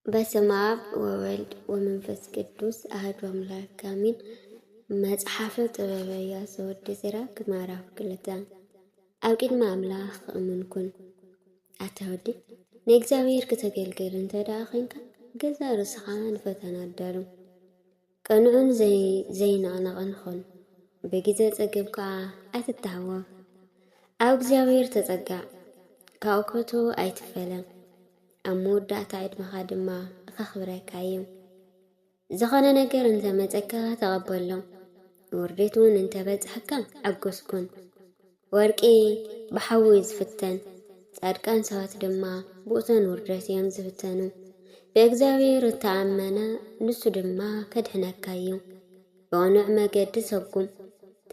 በስመ አብ ወወልድ ወመንፈስ ቅዱስ አህዱ አምላክ አሜን። መጽሓፈ ጥበበ ኢያሱ ወዲ ሲራክ ምዕራፍ ክልተ ኣብ ቅድሚ ኣምላኽ እሙን ኩን። ኣታ ወዲ ናይ እግዚኣብሔር ክተገልግል እንተ ደኣ ዄንካ ገዛ ርእስኻ ንፈተና ኣዳሉ። ቅኑዕን ዘይንቕነቕን ኹን፣ ብግዜ ጸገም ከኣ ኣይትተሃወኽ። ኣብ እግዚኣብሔር ተጸጋዕ፣ ካብኡ ከቶ ኣይትፈለ፣ ኣብ መወዳእታ ዕድመኻ ድማ ኸኽብረካ እዩ። ዝኾነ ነገር እንተመጸካ ተቐበሎ፣ ውርደት እውን እንተበጽሐካ ኣጎስኩን። ወርቂ ብሓዊ እዩ ዝፍተን፣ ጻድቃን ሰባት ድማ ብእቶን ውርደት እዮም ዝፍተኑ። ብእግዚኣብሔር እተኣመነ ንሱ ድማ ከድሕነካ እዩ፣ ብቕኑዕ መገዲ ሰጉም፣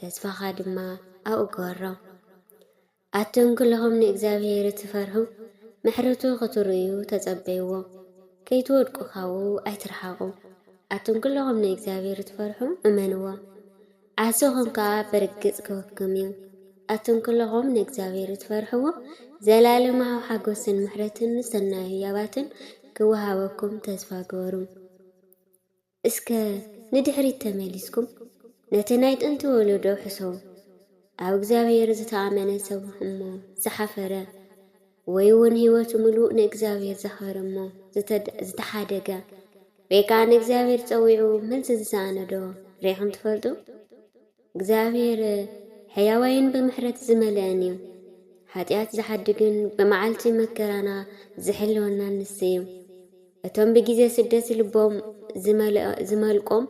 ተስፋኻ ድማ ኣብኡ ግበሮ። ኣቱም ኩልኹም ንእግዚኣብሔር እትፈርሑ፣ ምሕረቱ ክትርእዩ ተጸበይዎ፣ ከይትወድቁ ካብኡ ኣይትርሓቑ። ኣቱም ኩልኹም ንእግዚኣብሔር እትፈርሑ እመንዎ። ኣሰኹም ከኣ ብርግጽ ክህበኩም እዩ። ኣቱም ኵሎኹም ንእግዚኣብሄር እትፈርሕዎ፣ ዘለኣለማዊ ሓጐስን ምሕረትን ሰናይ ህያባትን ክወሃበኩም ተስፋ ግበሩ። እስከ ንድሕሪት ተመሊስኩም ነቲ ናይ ጥንቲ ወለዶ ሕሰቡ፣ ኣብ እግዚኣብሄር ዝተኣመነ ሰብ እሞ ዝሓፈረ፣ ወይውን ሕይወቱ ምሉእ ንእግዚኣብሔር ዘኽበረ እሞ ዝተሓደገ ወይ ከዓ ንእግዚኣብሔር ጸዊዑ መልሲ ዝሰኣነዶ ሬኹም ትፈልጡ? እግዚኣብሔር ሕያዋይን ብምሕረት ዝመልአን እዩ። ሓጢኣት ዝሓድግን ብመዓልቲ መከራና ዝሕልወና ንስ እዩ። እቶም ብጊዜ ስደት ልቦም ዝመልቆም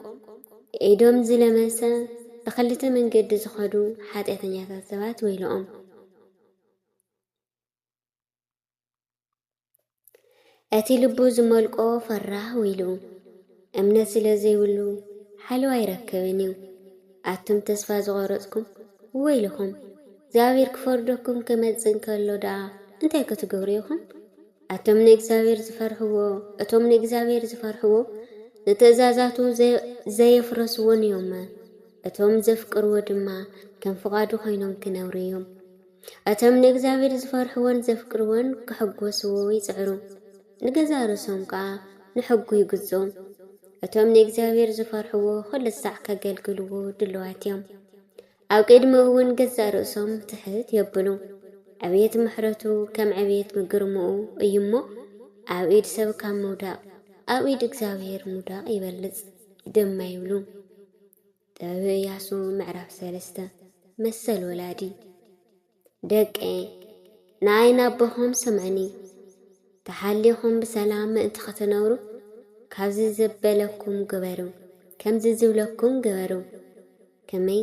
ኢዶም ዝለመሰ ብክልተ መንገዲ ዝኸዱ ሓጢኣተኛታት ሰባት ወይለኦም። እቲ ልቡ ዝመልቆ ፈራህ ውኢሉ እምነት ስለ ዘይብሉ ሓለዋ ኣይረክብን እዩ። ኣቱም ተስፋ ዝቆረጽኩም ወይልኹም እግዚኣብሔር ክፈርደኩም ክመጽእ እንከሎ ደኣ እንታይ ክትገብሩ ኢኹም? ኣቶም ንእግዚኣብሔር ዝፈርሕዎ እቶም ንእግዚኣብሔር ዝፈርሕዎ ንትእዛዛቱ ዘየፍረስዎን እዮም። እቶም ዘፍቅርዎ ድማ ከም ፍቓዱ ኮይኖም ክነብሩ እዮም። እቶም ንእግዚኣብሄር ዚፈርሕዎን ዜፍቅርዎን ኪሕጐስዎ ይጽዕሩ፣ ንገዛእ ርእሶም ከኣ ንሕጉ ይግዝኡ። እቶም ንእግዚኣብሄር ዚፈርሕዎ ዅሉ ሳዕ ኬገልግልዎ ድሉዋት እዮም፣ ኣብ ቅድሚኡ እውን ገዛእ ርእሶም ትሕት የብሉ። ዕብየት ምሕረቱ ከም ዕብየት ግርምኡ እዩ እሞ፣ ኣብ ኢድ ሰብ ካብ ምውዳቕ ኣብ ኢድ እግዚኣብሄር ምውዳቕ ይበልጽ ድማ ይብሉ። ጥበበ እያሱ ምዕራፍ ሰለስተ መሰል ወላዲ ደቀየ ንኣይ ናቦኹም ስምዕኒ ተሓሊኹም ብሰላም ምእንቲ ኸትነብሩ ካብዚ ዘበለኩም ግበሩ ከምዚ ዝብለኩም ግበሩ ከመይ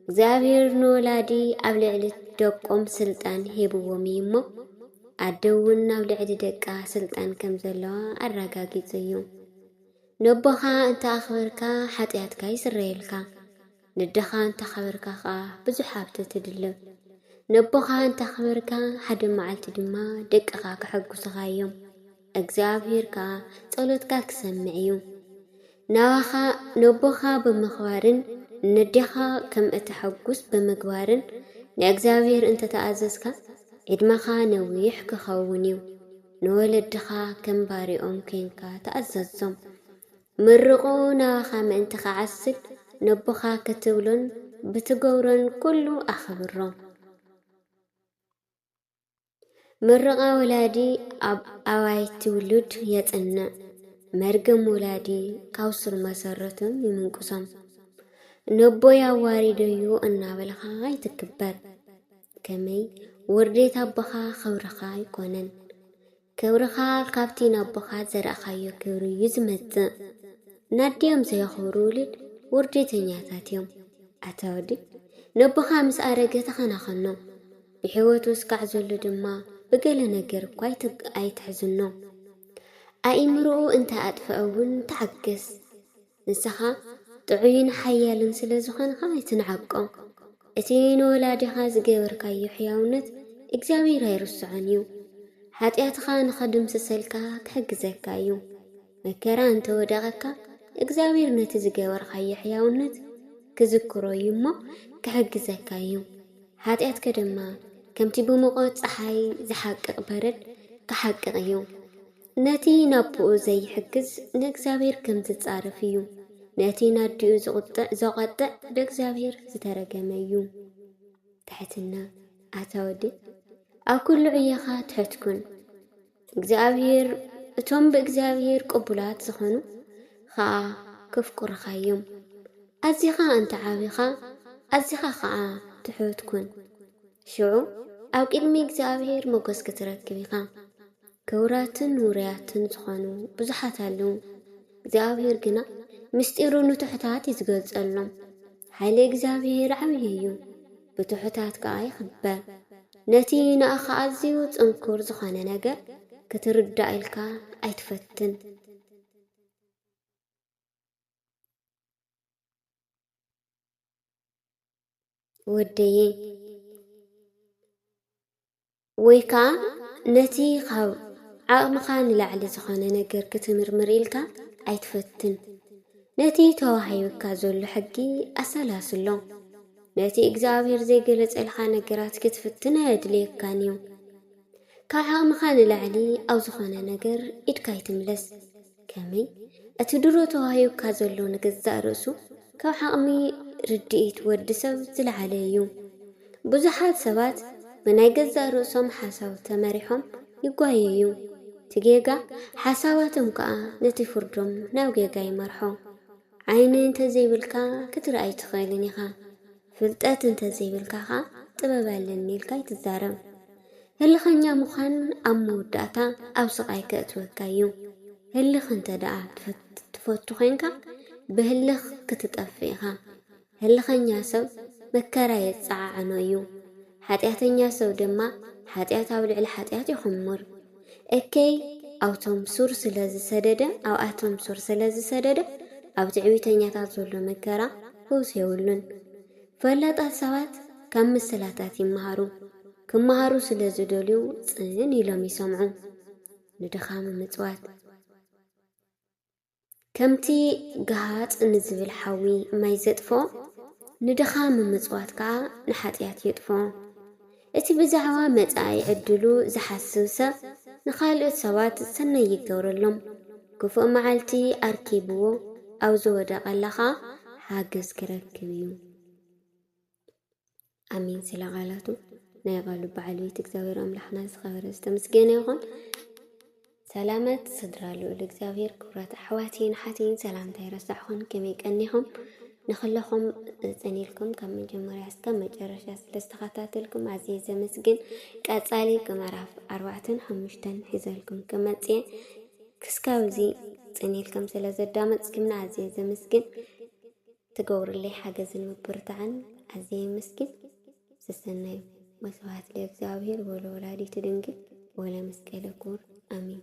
እግዚኣብሔር ንወላዲ ኣብ ልዕሊ ደቆም ስልጣን ሂብዎም እዩ እሞ ኣደ እውን ኣብ ልዕሊ ደቃ ስልጣን ከም ዘለዋ ኣረጋጊጹ እዩ ነቦኻ እንተ ኣኽበርካ ሓጢኣትካ ይስረየልካ፣ ነደኻ እንተ ኣኽበርካ ኸኣ ብዙሕ ሃብቲ ትድልብ። ነቦኻ እንተ ኣኽበርካ ሓደ መዓልቲ ድማ ደቅኻ ከሐጕሱኻ እዮም፣ እግዚኣብሄር ከኣ ጸሎትካ ኪሰምዕ እዩ። ናባኻ ነቦኻ ብምኽባርን ነዴኻ ከም እተሐጕስ ብምግባርን ንእግዚኣብሄር እንተ ተኣዘዝካ፣ ዕድመኻ ነዊሕ ኪኸውን እዩ። ንወለድኻ ከም ባርያኦም ኴንካ ተኣዘዞም። ምርቑ ናባኻ ምእንቲ ኺዓስል፣ ነቦኻ ክትብሎን ብትገብሮን ኵሉ ኣኽብሮ። ምርቓ ወላዲ ኣብ ኣባይቲ ውሉድ የጽንዕ፣ መርገም ወላዲ ካብ ሱር መሰረቱ ይምንቁሶም። ነቦይ ኣዋሪደዮ እናበልካ ኣይትክበር። ከመይ ውርዴት ኣቦኻ ኸብርኻ ኣይኮነን ክብርኻ ካብቲ ናቦኻ ዘርእኻዮ ክብሪ እዩ ዝመጽእ ናዲኦም ዘየኽብሩ ውልድ ውርዴተኛታት እዮም ኣታ ወዲ ነቦኻ ምስ ኣረገ ተኸናኸኖ ብሕይወቱ እስካዕ ዘሎ ድማ ብገለ ነገር እኳ ኣይትሕዝኖ ኣኢምርኡ እንተ ኣጥፍዐ እውን ተዓገስ ንሰኻ ጥዑይን ሓያልን ስለ ዝዀንካ ኣይትንዓቆ። እቲ ንወላዲኻ ዝገበርካዮ ሕያውነት እግዚኣብሄር ኣይርስዖን እዩ። ሓጢኣትኻ ንኽድምስሰልካ ክሕግዘካ እዩ። መከራ እንተ ወደቐካ፣ እግዚኣብሄር ነቲ ዝገበርካዮ ሕያውነት ክዝክሮ እዩ እሞ ክሕግዘካ እዩ። ሓጢኣትከ ድማ ከምቲ ብሙቐት ጸሓይ ዝሓቅቕ በረድ ክሓቅቕ እዩ። ነቲ ናቡኡ ዘይሕግዝ ንእግዚኣብሔር ከም ዝጻረፍ እዩ፣ ነቲ ናዲኡ ዝቁጥዕ ዘቀጥዕ ብእግዚኣብሔር ዝተረገመ እዩ። ትሕትና ኣታ ወዲ ኣብ ኩሉ ዕዮኻ ትሑት ኩን። እግዚኣብሔር እቶም ብእግዚኣብሔር ቅቡላት ዝኾኑ ኸኣ ክፍቁርኻ እዮም። ኣዚኻ እንተ ዓቢኻ ኣዚኻ ኸኣ ትሑት ኩን። ሽዑ ኣብ ቅድሚ እግዚኣብሔር መጎስ ክትረክብ ኢኻ። ክቡራትን ውሩያትን ዝኾኑ ብዙሓት ኣለዉ፣ እግዚኣብሄር ግና ምስጢሩ ንትሑታት እዩ ዝገልጸሎም። ሓይሊ እግዚኣብሄር ዓብዪ እዩ፣ ብትሑታት ከኣ ይኽበር። ነቲ ንኣኻ ኣዝዩ ጽንኩር ዝኾነ ነገር ክትርዳእ ኢልካ ኣይትፈትን። ወደየይ ወይ ከኣ ነቲ ካብ ዓቕምኻ ንላዕሊ ዝኾነ ነገር ክትምርምር ኢልካ ኣይትፈትን። ነቲ ተዋሂቡካ ዘሎ ሕጊ ኣሰላስሎ። ነቲ እግዚኣብሔር ዘይገለጸልካ ነገራት ክትፍትን ኣየድልየካን እዩ። ካብ ዓቕምኻ ንላዕሊ ኣብ ዝኾነ ነገር ኢድካ ኣይትምለስ። ከመይ እቲ ድሮ ተዋሂቡካ ዘሎ ንገዛእ ርእሱ ካብ ዓቕሚ ርድኢት ወዲ ሰብ ዝለዓለ እዩ። ብዙሓት ሰባት ብናይ ገዛእ ርእሶም ሓሳብ ተመሪሖም ይጓየዩ። እቲ ጌጋ ሓሳባቶም ከኣ ነቲ ፍርዶም ናብ ጌጋ ይመርሖ። ዓይኒ እንተዘይብልካ ክትርእ ኣይትኽእልን ኢኻ። ፍልጠት እንተዘይብልካ ከኣ ጥበብ ኣለኒ ኢልካ ኣይትዛረብ። ህልኸኛ ምዃን ኣብ መወዳእታ ኣብ ስቓይ ከእትወካ እዩ። ህልኽ እንተ ደኣ ትፈቱ ዄንካ ብህልኽ ክትጠፍእ ኢኻ። ህልኸኛ ሰብ መከራ የጸዓዕኖ እዩ፣ ሓጢኣተኛ ሰብ ድማ ሓጢኣት ኣብ ልዕሊ ሓጢኣት ይዅምር። እከይ ኣብቶም ሱር ስለ ዝሰደደ ኣብኣቶም ሱር ስለ ዝሰደደ ኣብ ትዕቢተኛታት ዘሎ መከራ ፈውሲ የብሉን። ፈላጣት ሰባት ካብ ምስላታት ይመሃሩ፣ ክመሃሩ ስለ ዝደልዩ ጽን ኢሎም ይሰምዑ። ንድኻም ምጽዋት። ከምቲ ገሃጽ ንዝብል ሓዊ ማይ ዘጥፍኦ፣ ንድኻ ምምጽዋት ከኣ ንሓጢኣት የጥፍኦ። እቲ ብዛዕባ መጻኢ ዕድሉ ዝሓስብ ሰብ ንኻልኦት ሰባት ሰናይ ይገብረሎም፣ ክፉእ መዓልቲ ኣርኪብዎ ኣብ ዝወደቐላ ኸኣ ሓገዝ ኪረክብ እዩ። ኣሜን ስለ ቃላቱ ናይ ኣባሉ በዓል ቤት እግዚኣብሔር ኣምላኽና ዝኸበረ ዝተመስገነ ይኹን። ሰላመት ስድራ ልዑል እግዚኣብሔር ክብራት ኣሕዋትይን ሓትይን ሰላምታ ይረሳዕኹን ከመይ ቀኒኹም ንክለኹም ጸኒልኩም ካብ መጀመርያ እስከ መጨረሻ ስለ ዝተኸታተልኩም ኣዝየ ዘመስግን። ቀጻሊ ምዕራፍ ኣርባዕተን ሓሙሽተን ሒዘልኩም ክመጽእ ክስካብ እዚ ጸኒልኩም ስለ ዘዳመጽኩምና ኣዝየ ዘመስግን። ትገብርለይ ሓገዝን ምብርታዕን ኣዝየ የመስግን ሰሰናዩ ወስብሃት ለእግዚኣብሔር ወለወላዲቱ ድንግል ወለመስቀለ ክቡር ኣሜን።